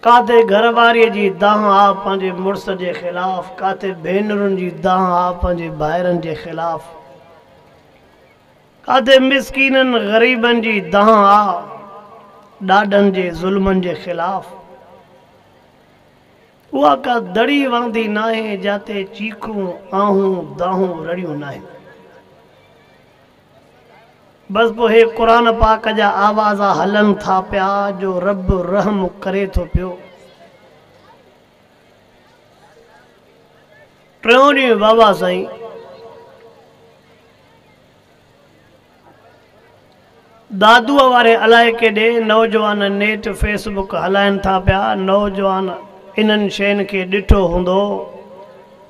ڪاٿي گهر واريء جي دانهن آ پنهنجي مڙس جي خلاف، ڪاٿي ڀينرن جي دانهن آ پنهنجي ڀائرن جي خلاف، ڪاٿي مسڪينن غريبن جي دانهن آ ڏاڏن جي ظلمن جي خلاف. اها ڪا دڙي وهندي ناهي، جاتي چيخون، آهون، دانهون رڙيون ناهن. بس پوء هي قرآن پاڪ جا آواز هلن ٿا پيا جو رب رحم ڪري ٿو پيو. ٽيون ڏينهن بابا سائين دادوء واري الائي ڪيڏي نوجوان نيٽ فيس بڪ هلائن ٿا پيا نوجوان انهن شين کي ڏٺو هوندو.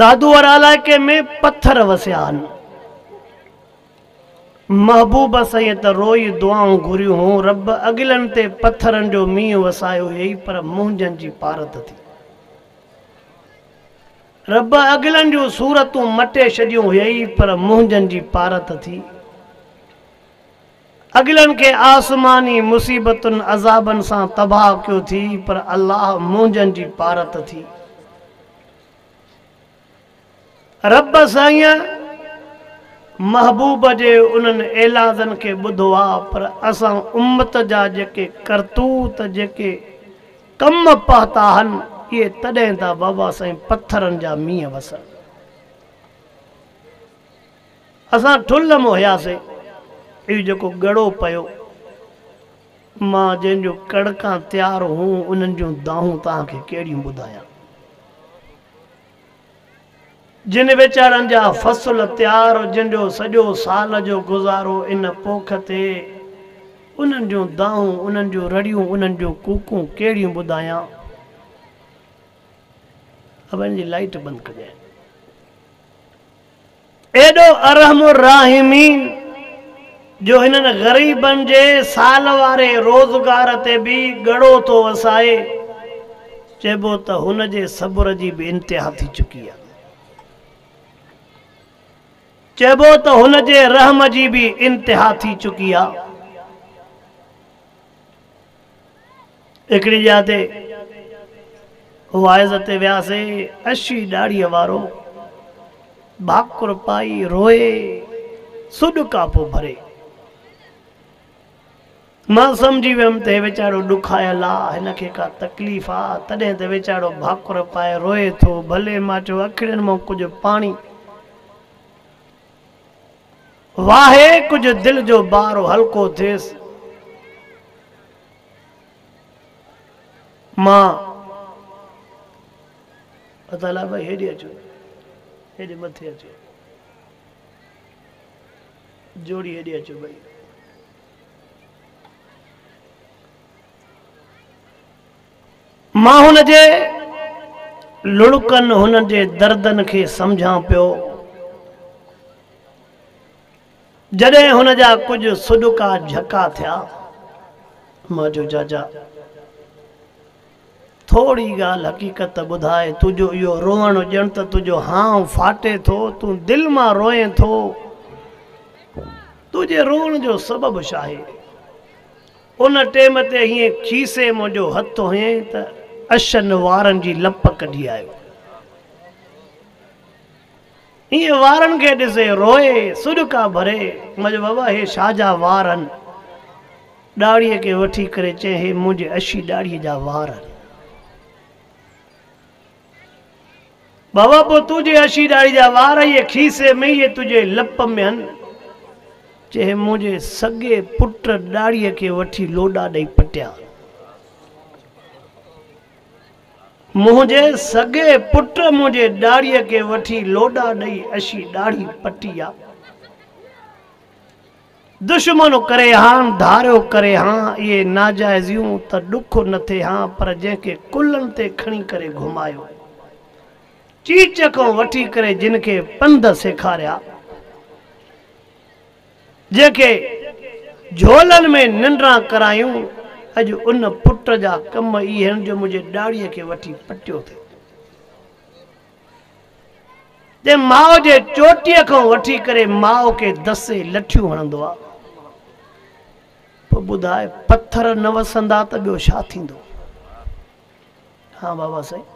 دادوهر علائقي ۾ پٿر وسيا هن. محبوبه سئيء ته روئي دعائون گهريون هون، رب اڳلن تي پٿرن جو مينهن وسايو هيئي پر منهنجن جي پارت ٿي. رب اڳلن جون صورتون مٽي ڇڏيون هيئي پر منهنجن جي پارت ٿي. اڳلن کي آسماني مصيبتن عذابن سان تباهه ڪيو ٿي پر الله منهنجن جي پارت ٿي. رب سائين محبوب جي انهن ايلادن کي ٻڌو آ پر اسان امت جا جيڪي ڪرتوت جيڪي ڪم پهتا هن اهي تڏهن ٿا بابا سائين پٿرن جا مينهن وسن اسان ٺلهه م هياسين اهو جيڪو ڳڙو پيو مان جن جون ڪڻڪان تيار هون، انهن جون دانهون توهان کي ڪهڙيون ٻڌايان. جن ويچارن جا فصل تيار جن جو سڄو سال جو گذارو ان پوک تي، انهن جون دانهون، انهن جون رڙيون، انهن جون ڪوڪون ڪهڙيون ٻڌايان. ابا هن جي لائيٽ بند ڪجانء. ايڏو ارحم الراحمين جو هنن غريبن جي سال واري روزگار تي به ڳڙو ٿو وسائي، چئبو ته هن جي صبر جي به انتها ٿي چڪي آهي. چئبو ته هن جي رحم جي به انتها ٿي چڪي آهي. هڪڙي جاء تي واعظ تي وياسين، اشي ڏاڙهيء وارو ڀاڪر پائي روئي سڏ ڪاپو ڀري. مان سمجهي ويم ته هي ويچارو ڏکايل آ، هن کي ڪا تڪليف آ، تڏهن ته ويچارو ڀاڪر پائي روئي ٿو. ڀلي! مان چيو، اکڙين مان ڪجهه پاڻي واهي، ڪجهه دل جو بار هلڪو ٿئيس. مان اطالع بھاء ھيڏي اچو ھيڏي مٿي اچو جوڙي ھيڏي اچو بھاء مان ھن جي لڙڪن ھن جي دردن کي سمجھان پيو جڏهن هن جا ڪجهه سڏڪا جهڪا ٿيا، مان چيو، جاجا، ٿوري ڳالهه حقيقت ته ٻڌاء، تنهنجو اهو روئڻ ڄڻ ته تنهنجو هانء ڦاٽي ٿو، تون دل مان روئين ٿو، تنهنجي روئڻ جو سبب ڇاهي؟ ان ٽيم تي هيئن کيسي منهنجو هٿ هنيائين ته اشن وارن جي لپ ڪڍي آيو. ائين وارن کي ڏسي روئي سڏڪا ڀري مجھه بابا هي ڇا جا وار هن ڏاڙهي کي وٺي ڪري چئين هي منهنجي اشي ڏاڙهي جا وار هن بابا پوء تنهنجي اشي ڏاڙهي جا وار اهي کيسي ۾ اهي تنهنجي لپ ۾ هن چئين هي منهنجي سڳي پٽ ڏاڙهي کي وٺي لوڏا ڏئي پٽيا هن. منهنجي سڳي پٽ منهنجي ڏاڙهيء کي وٺي لوڏا ڏئي اشي ڏاڙهي پٽي آ. دشمن ڪري هان، ڌاريو ڪري هان، اهي ناجائزيون ته ڏک نه ٿي هان پر جنهن کي ڪلهن تي کڻي ڪري گهمايو، چيچ کان وٺي ڪري جن کي پنڌ سيکاريا، جنهن کي جهولن ۾ ننڊران ڪرايون، اڄ ان پٽ جا ڪم اهي آهن جو منهنجي ڏاڙهيء کي وٺي پٽيو اٿئي. تنهن ماء جي چوٽيء کان وٺي ڪري ماء کي دسي لٺيون هڻندو آ. پوء ٻڌاء پٿر نه وسندا ته ٻيو ڇا ٿيندو؟ ها بابا سائين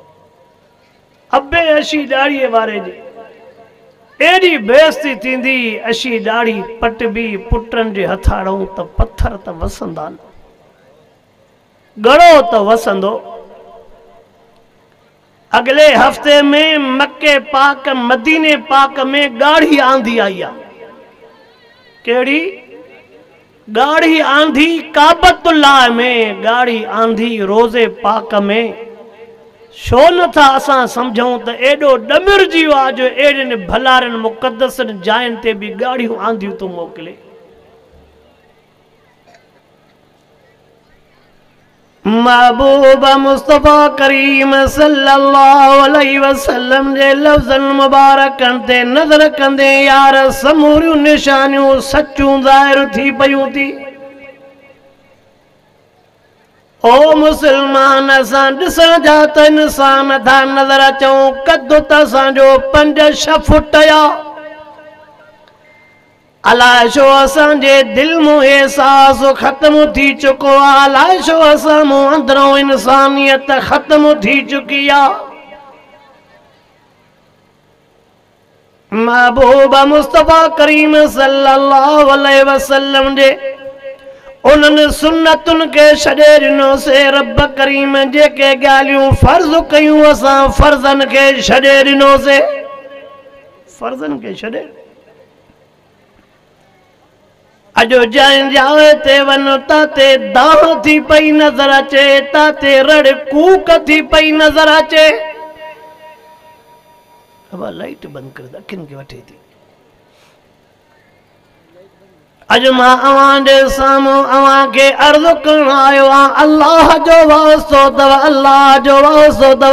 ابي اشي ڏاڙهي واري جي ايڏي بيعزتي ٿيندي اشي ڏاڙهي پٽبي پٽن جي هٿاڙئون ته پٿر ته وسندا نه ڳڙو ته وسندو اڳلي هفتي ۾ مڪي پاڪ مديني پاڪ ۾ ڳاڙهي آندي آئي آ ڪهڙي ڳاڙهي آنڌي ڪعبت الله ۾، ڳاڙهي آنڌي روضي پاڪ ۾، ڇو نه ٿا اسان سمجهون ته ايڏو ڏمرجي ويو آهي جو اهڙين ڀلارين مقدسن جاين تي به ڳاڙهيون آنڌيون ٿو موڪلي. محبوب مصطفيٰ ڪريم صلّي الله عليه وسلّم جي لفظن مبارڪن تي نظر ڪندي يار سموريون نشانيون سچون ظاهر ٿي پيون ٿي او مسلمان اسان ڏسڻ جا ته انسان ٿا نظر اچون قد ته اسان جو پنج ڇهه فٽ يا الاء ڇو اسان جي دل مون احساس ختم ٿي چڪو آ الاء ڇو اسان مون اندرون انسانيت ختم ٿي چڪي آ محبوب مصطفيٰ ڪريم صلي الله عليه وسلم جي انهن سنتن کي ڇڏي ڏنو سي رب ڪريم جيڪي ڳالهيون فرض ڪيون اسان فرضن کي ڇڏي ڏنو سي فرضن کي ڇڏي اڄ جنهن جاء تي وڃ تاتي دانهن ٿي پئي نظر اچي، تاتي رڙ ڪوڪ ٿي پئي نظر اچي. ابا لائيٽ بند ڪريو ته اکين کي وٺي ٿي. اڄ مان اوهان جي سامهون اوهان کي عرض ڪرڻ آيو آهيان الله جو واسطو اٿو الله جو واسطو اٿو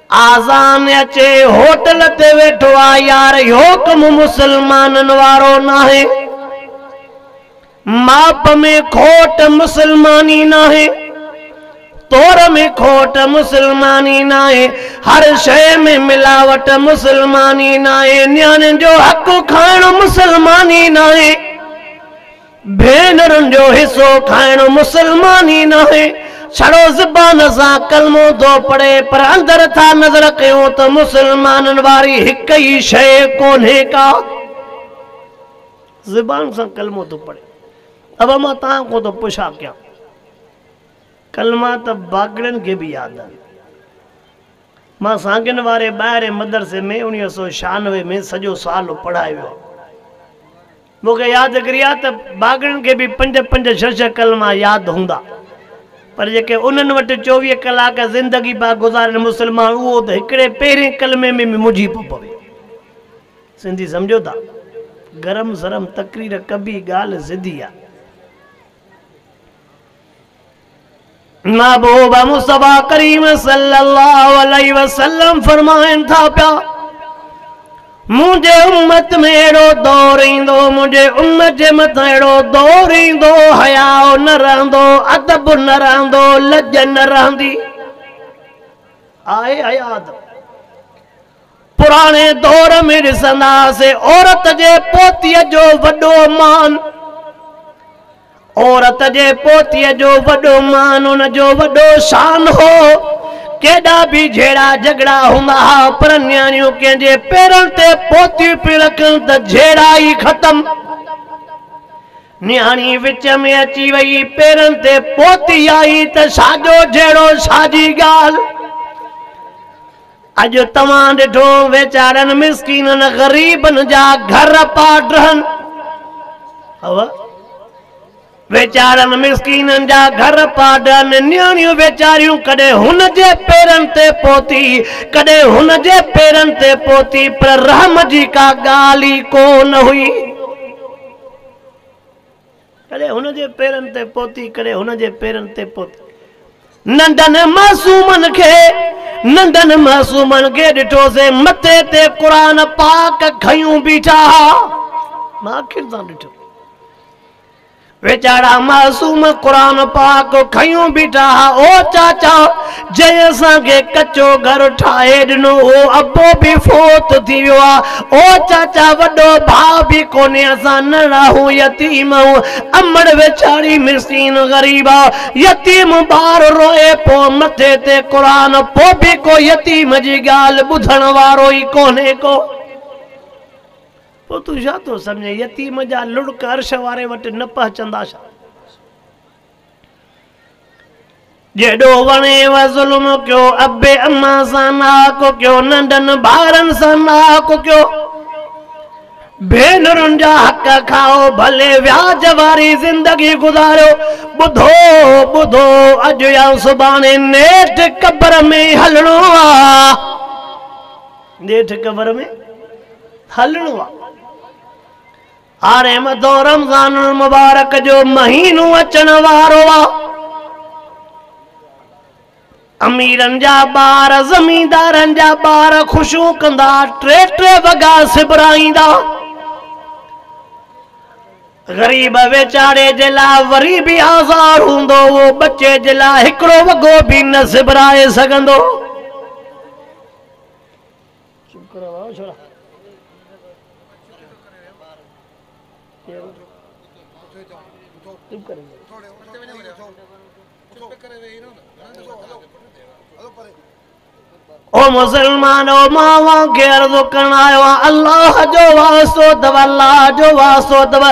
آذان اچي هوٽل تي ويٺو آ يار اهو ڪم مسلمانن وارو ناهي ماپ ۾ کوٽ مسلماني ناهي تور ۾ کوٽ مسلماني ناهي هر شيء ۾ ملاوٽ مسلماني ناهي نياڻين جو حق کائڻ مسلماني ناهي ڀينرن جو حصو کائڻ مسلماني ناهي، ڇڙو زبان سان ڪلمو ٿو پڙهي پر اندر ٿا نظر ڪيون ته مسلمانن واري هڪ ئي شيء ڪونهي ڪا. زبان سان ڪلمو ٿو پڙهي. ابا مان توهان کان ٿو پڇا ڪيان. ڪلما ته باگڙين کي به ياد آهن. مان سانگين واري ٻاهرين مدرسي ۾ اڻيوهه سؤ ڇهانوي ۾ سڄو سال پڙهائي ويو آهيان. مون کي ياد گري آهي ته باغڙن کي به پنج پنج ڇهه ڇهه ڪلما ياد هوندا پر جيڪي انهن وٽ چوويهه ڪلاڪ زندگي پيا گذارين مسلمان اهو ته هڪڙي پهرين ڪلمي ۾ به منجهي پيو پوي. سنڌي سمجهو ٿا گرم سرم تقرير ڪبي ڳالهه سڌي آهي. محبوب مصطفيٰ ڪريم صلي الله عليه وسلم فرمائن ٿا پيا منهنجي امت ۾ اهڙو دور ايندو منهنجي امت جي مٿان اهڙو دور ايندو حياء نه رهندو ادب نه رهندو لڄ نه رهندي آهي حياء ادب پراڻي دور ۾ ڏسندا هئاسين عورت جي پوتيء جو وڏو مان، عورت جي پوتيء جو وڏو مان ان جو وڏو شان هو. ڪيڏا به جهيڙا جهڳڙا هوندا ها پر نياڻيون ڪنهن جي پيرن تي پوتيون پيون رکن ته جهيڙا ئي ختم. نياڻي وچ ۾ اچي وئي، پيرن تي پوتي آئي ته ڇا جو جهيڙو ڇا جي ڳالهه. اڄ توهان ڏٺو ويچارن مسڪينن غريبن جا گهر پاڊرهن ويچارن مسڪينن جا گهر پاڊرهن نياڻيون ويچاريون ڪڏهن هن جي پيرن تي پهتي ڪڏهن هن جي پيرن تي پهتي پر رحم جي ڪا ڳالهه ئي ڪو نه هئي ڪڏهن هن جي پيرن تي پهتي، ڪڏهن هن جي پيرن تي پهتي. ننڍن معصومن کي، ننڍن معصومن کي ڏٺوسين مٿي تي قرآن پاڪ کنيون بيٺا ها. مان اکين سان ڏٺو. ويچارا معصوم قرآن پاڪ کنيون بيٺا ها. او چاچا! جنهن اسان کي ڪچو گهر ٺاهي ڏنو هو، ابو به فوت ٿي ويو آ، او چاچا وڏو ڀاء به ڪونهي، اسان ننڙاهون يتيم آهيون، امڙ ويچاري مسڪين غريب آ، يتيم ٻار روئي پو مٿي تي قرآن، پو به ڪو يتيم جي ڳالهه ٻڌڻ وارو ئي ڪونهي ڪو، پو تون ڇا ٿو سمجهين يتيم جا لڙڪ عرش واري وٽ نه پهچندا ڇا؟ جيڏو وڻيو ظلم ڪيو ابي اما سان ناحق ڪيو ننڍن ٻارن سان ناحق ڪيو ڀينرن جا حق کائو ڀلي وياج واري زندگي گذاريو ٻڌو ٻڌو اڄ يا سڀاڻي نيٺ قبر ۾ هلڻو آ نيٺ قبر ۾ هلڻو آ آر ايم ادو رمضان المبارڪ جو مهينو اچڻ وارو آ. اميرن جا ٻار زميندارن جا ٻار خوشيون ڪندا ٽي ٽي وڳا سبرائيندا. غريب ويچاري جي لاء وري به آزار هوندو اهو ٻچي جي لاء هڪڙو وڳو به نه سبرائي سگهندو. چپ ڪريو ڀائو ڇوڙا چپ ڪري او مسلمان او ماوا کي عرض ڪرڻ آيو الله جو واسطو تبلا جو واسطو تبلا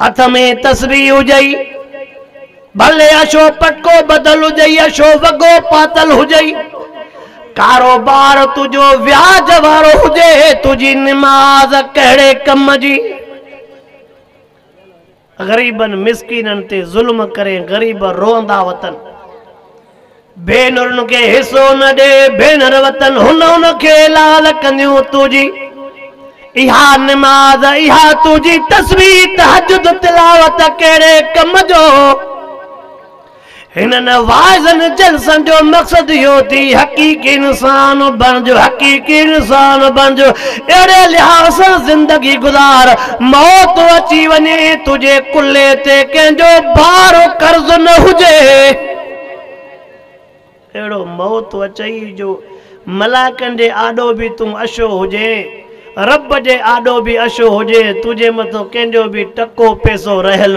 هٿ ۾ تسبيح هجئي، ڀلي اشو پٽڪو ٻڌل هجئي، اشو وڳو پاتل هجئي، ڪاروبار تنهنجو وياج وارو هجي، تنهنجي نماز ڪهڙي ڪم جي؟ غريبن مسڪينن تي ظلم ڪرين، غريب روئندا وتن. ڀينرن کي حصو نه ڏي ڀينر وطن هن ان کي لال ڪنديون تنهنجي اها نماز اها تنهنجي تسبيح تهجد تلاوت ڪهڙي ڪم جو هنن واعظن جلسن جو مقصد اهو ٿي حقيقي انسان بڻجو حقيقي انسان بڻجو اهڙي لحاظ سان زندگي گذار موت اچي وڃي تنهنجي ڪلهي تي ڪنهن جو بار قرض نه هجي اهڙو موت اچئي جو ملائڪن جي آڏو به تون اشو هجين، رب جي آڏو به اشو هجين، تنهنجي مٿو ڪنهن جو به ٽڪو پئسو رهيل.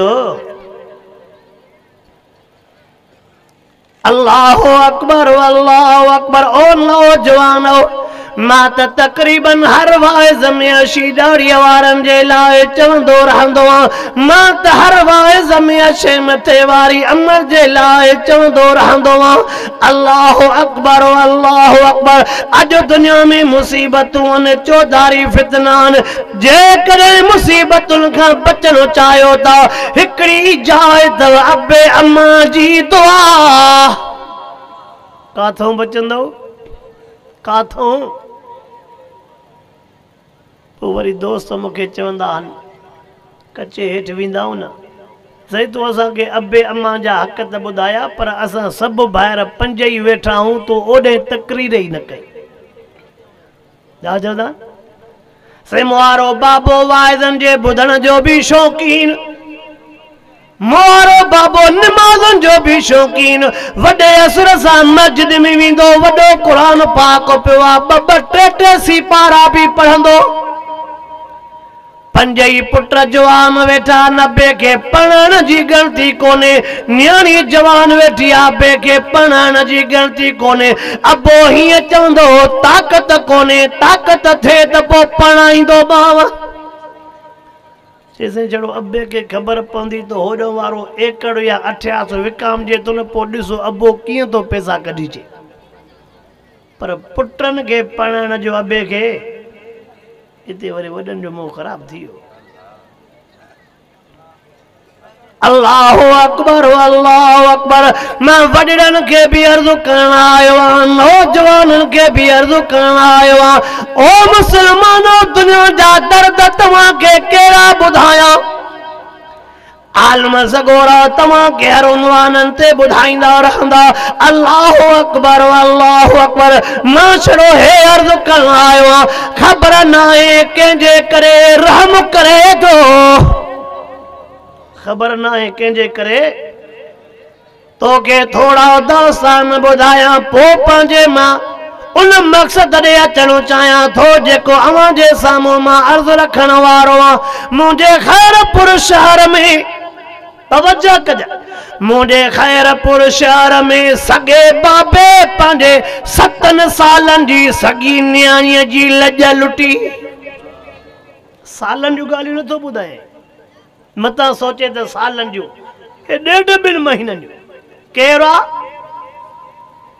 الله اڪبر الله اڪبر او نوجوانؤ! مان ته تقريباً هر واعظ ۾ اشي ڏاڙهيء وارن جي لاء چوندو رهندو آهيان. مان ته هر واعظ ۾ اشي مٿي واري عمل جي لاء چوندو رهندو آهيان. الله اڪبر و الله اڪبر اڄ دنيا ۾ مصيبتون آهن، چوڌاري فتنا آهن، جيڪڏهن مصيبتن کان بچڻ چاهيو ٿا، هڪڙي ئي جاء اٿو، ابي امان جي دعا. ڪاٿئون بچندئو؟ ڪاٿئون؟ پوء وري دوست مون کي چوندا آهن، ڪچي هيٺ ويندائون نه؟ سائين تو اسان کي ابي امان جا حق ته ٻڌايا پر اسان سڀ ڀائر پنج ئي ويٺا آهون تو اوڏهين تقرير ئي نه ڪئي. ڇا چوندا آهن؟ سم وارو بابو واعظن جي ٻڌڻ جو به شوقين م وارو بابو نمازن جو به شوقين وڏي اثر سان مسجد ۾ ويندو وڏو قرآن پاڪ پيو آ ٻه ٻه ٽي ٽي سي پارا به پڙهندو پنج ئي پٽ جوان ويٺا نه بي کي پڙهائڻ جي ڳڻتي ڪونهي نياڻي جوان ويٺي آ بي کي پڙهائڻ جي ڳڻتي ڪونهي ابو هيئن چوندو هو، طاقت ڪونهي، طاقت ٿئي ته پوء پرڻائيندومانء. چيسين جهڙو ابي کي خبر پوندي ته هوڏهن وارو ايڪڙ يا اٺياس وڪامجي ٿو نه، پوء ڏسو ابو ڪيئن ٿو پئسا ڪڍي چي. پر پٽن کي پرڻائڻ جو ابي کي. اتي وري وڏن جو منهن خراب ٿي ويو. الله اڪبر الله اڪبر مان وڏڙن کي به عرض ڪرڻ آيو آهيان نوجوانن کي به عرض ڪرڻ آيو آهيان او مسلمانو دنيا جا درد توهان کي ڪهڙا ٻڌايان عالم سڳورا توهان کي هر عنوانن تي ٻڌائيندا رهندا الله اڪبر الله اڪبر مان ڇڙو هي عرض ڪرڻ آيو آهيان خبر ناهي ڪنهن جي ڪري رحم ڪري ٿو خبر ناهي ڪنهن جي ڪري توکي ٿورا داستان ٻڌايان پو پنهنجي مان ان مقصد ڏي اچڻ چاهيان ٿو جيڪو اوهان جي سامهون مان عرض رکڻ وارو آهيان منهنجي خيرپور شهر ۾ توجه ڪج مون ڏي خيرپور شهر ۾ سڳي بابي پنهنجي ستن سالن جي سڳي نياڻيء جي لڄ لٽي. سالن جون ڳالهيون نه ٿو ٻڌائين، متان سوچي ته سالن جون، اهي ڏيڍ ٻن مهينن جون. ڪير آ؟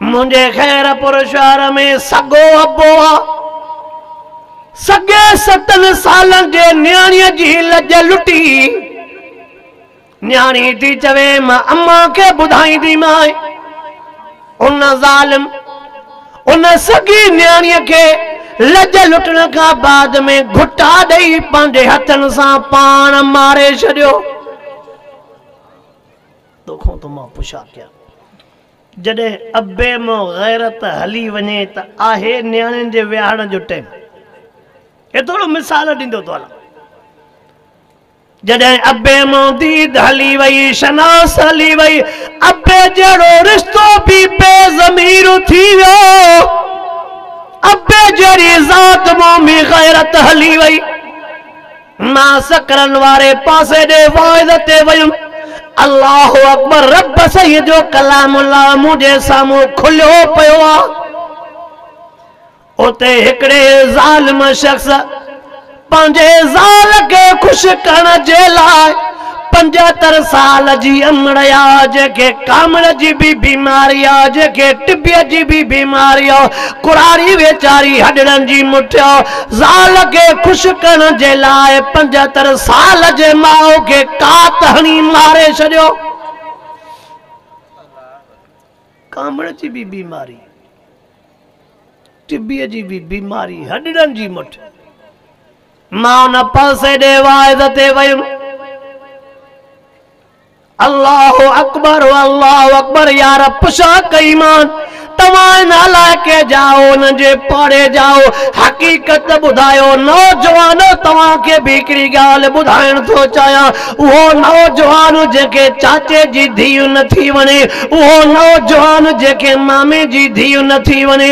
منهنجي خيرپور شهر ۾ سڳو ابو آ. سڳي ستن سالن جي نياڻيء جي لڄ لٽي. نياڻي ٿي چوي مان امان کي ٻڌائينديمانء. ان ظالم، ان سڳي نياڻيء کي لڄ لٽڻ کان بعد ۾ گهٽا ڏئي پنهنجي هٿن سان پاڻ ماري ڇڏيو. توکان ٿو مان پڇا ڪيان. جڏهن ابي مان غيرت هلي وڃي ته آهي نياڻين جي ويهاڙڻ جو ٽيم. اهي ٿورو مثال ڏيندو ٿو هلان. جڏهن ابي مان ديد هلي وئي، شناس هلي وئي، ابي جهڙو رشتو به بي ضمير ٿي ويو. ابي جهڙي ذات مان به غيرت هلي وئي. مان سڪرن واري پاسي ڏي واعظ تي ويم. الله اڪبر رب سيد جو ڪلام الله منهنجي سامهون کليو پيو آ. اتي هڪڙي ظالم شخص پنهنجي زال کي خوش ڪرڻ جي لاء پنجهتر سال جي امڙ آ جيڪي ڪامڙ جي بي بيماري آ جيڪي ٽبي جي بي بيماري آ ڪڙاڙي ويچاري هڏڙن جي مٺي آ زال کي خوش ڪرڻ جي لاء پنجهتر سال جي ماء کي ڪات هڻي ماري ڇڏيو ڪامڙ جي بي بيماري ٽبي جي بي بيماري هڏڙن جي مٺي مان ان پاسي ڏي واعظ تي ويم. الله اڪبر الله اڪبر يار پڇا ڪئي مان توهان ان علائقي جا آهو ان جي پاڙي جا آهو حقيقت ٻڌايو نوجوانو توهان کي به هڪڙي ڳالهه ٻڌائڻ ٿو چاهيان اهو نوجوان جنهن کي چاچي جي ڌيء نه ٿي وڻي اهو نوجوان جنهن کي مامي جي ڌيء نه ٿي وڻي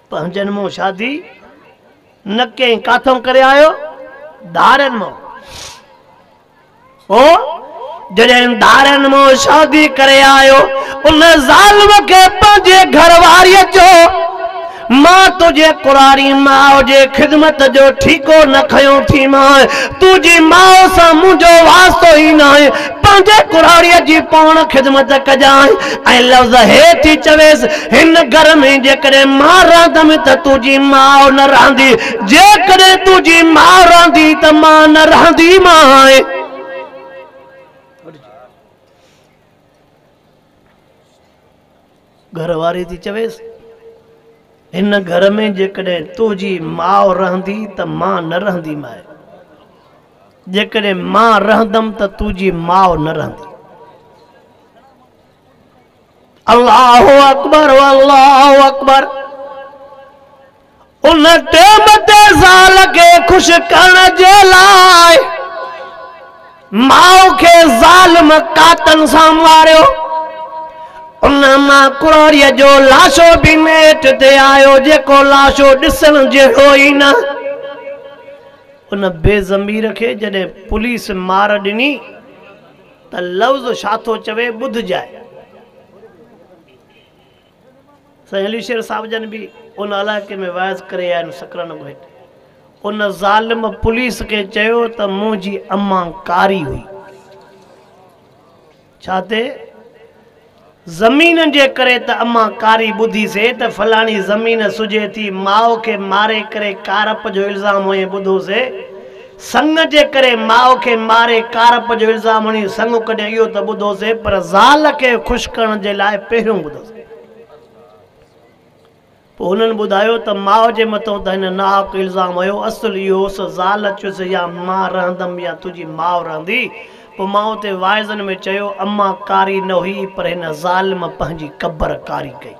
پنهنجن مون شادي نه ڪئين ڪاٿئون ڪري آيو؟ ڌارين مون. او جڏهن ڌارين مون شادي ڪري آيو ان ظالم کي پنهنجي گهر واريء چيو مان تنهنجي ڪنواري ماء جي خدمت جو ٺيڪو نه کنيو ٿي مان تنهنجي ماء سان منهنجو واسطو ئي ناهي پنهنجي ڪراڙيء جي پاڻ خدمت ڪجانء ۽ لفظ هي ٿي چويس، هن گهر ۾ جيڪڏهن مان رهندم ته تنهنجي ماء نه رهندي، جيڪڏهن تنهنجي ماء رهندي ته مان نه رهنديمانء. گهر واري ٿي چويس، هن گهر ۾ جيڪڏهن تنهنجي ماء رهندي ته مان نه رهندي ماء، جيڪڏهن مان رهندم ته تنهنجي ماء نه رهندي. الله اڪبر الله اڪبر. ان ٽيم تي زال کي خوش ڪرڻ جي لاء ماء کي ظالم قاتل سان ماريو. ان مان ڪروريء جو لاشو به نيٺ تي آيو، جيڪو لاشو ڏسڻ جهڙو ئي نه. ان بي ضمير کي جڏهن پوليس مار ڏني ته لفظ ڇا ٿو چوي ٻڌجانء. سائين علي شير صاحب جن به ان علائقي ۾ واعظ ڪري آئن سڪرن ڳوٺ ان ظالم پوليس کي چيو ته منهنجي اما ڪاري هئي ڇا تي زمين جي ڪري ته اما ڪاري ٻڌي سي ته فلاڻي زمين سجي ٿي ماء کي ماري ڪري ڪارپ جو الزام هئين ٻڌو سي سڱ جي ڪري ماء کي ماري ڪارپ جو الزام هڻي سڱ ڪڍيا اهو ته ٻڌوسي پر زال کي خوش ڪرڻ جي لاء پهريون ٻڌوسي پوء هنن ٻڌايو ته ماء جي مٿان ته هن ناحق الزام هنيو اصل اهو هوس زال چيس يا مان رهندم يا تنهنجي ماء رهندي پوء ماء تي واعظن ۾ چيو امان ڪاري نه هئي پر هن ظالم پنهنجي قبر ڪاري ڪئي.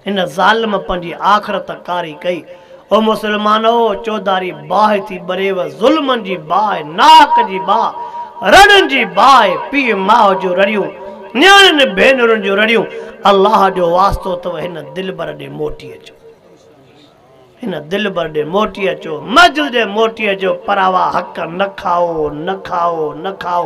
ان ظالم پنهنجي آخرت ڪاري ڪئي. او مسلمانؤ! چوڌاري باهه ٿي ٻريو، ظلمن جي باهه، ناحق جي باهه، رڙن جي باهه، پيء ماء جون رڙيون، نياڻين ڀينرن جون رڙيون، الله جو واسطو اٿئو هن دلبر ڏي موٽي اچو. هن دلبر ڏي موٽي اچو، مجل ڏي موٽي اچو، پر اها حق نه کائو، نه کائو، نه کائو.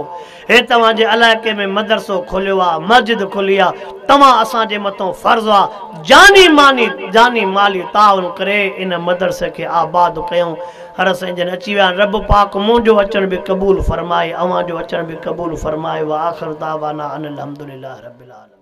هي توهان جي علائقي ۾ مدرسو کوليو آ، مسجد کلي آ، توهان اسان جي مٿون فرض آ، جاني ماني، جاني مالي تعاون ڪري ان مدرسي کي آباد ڪيون. هر سائين جن اچي ويا آهن، رب پاڪ منهنجو اچڻ به قبول فرمائي، اوهان جو اچڻ به قبول فرمائي، وآخر دعوانا ان الحمدلله رب العالمين.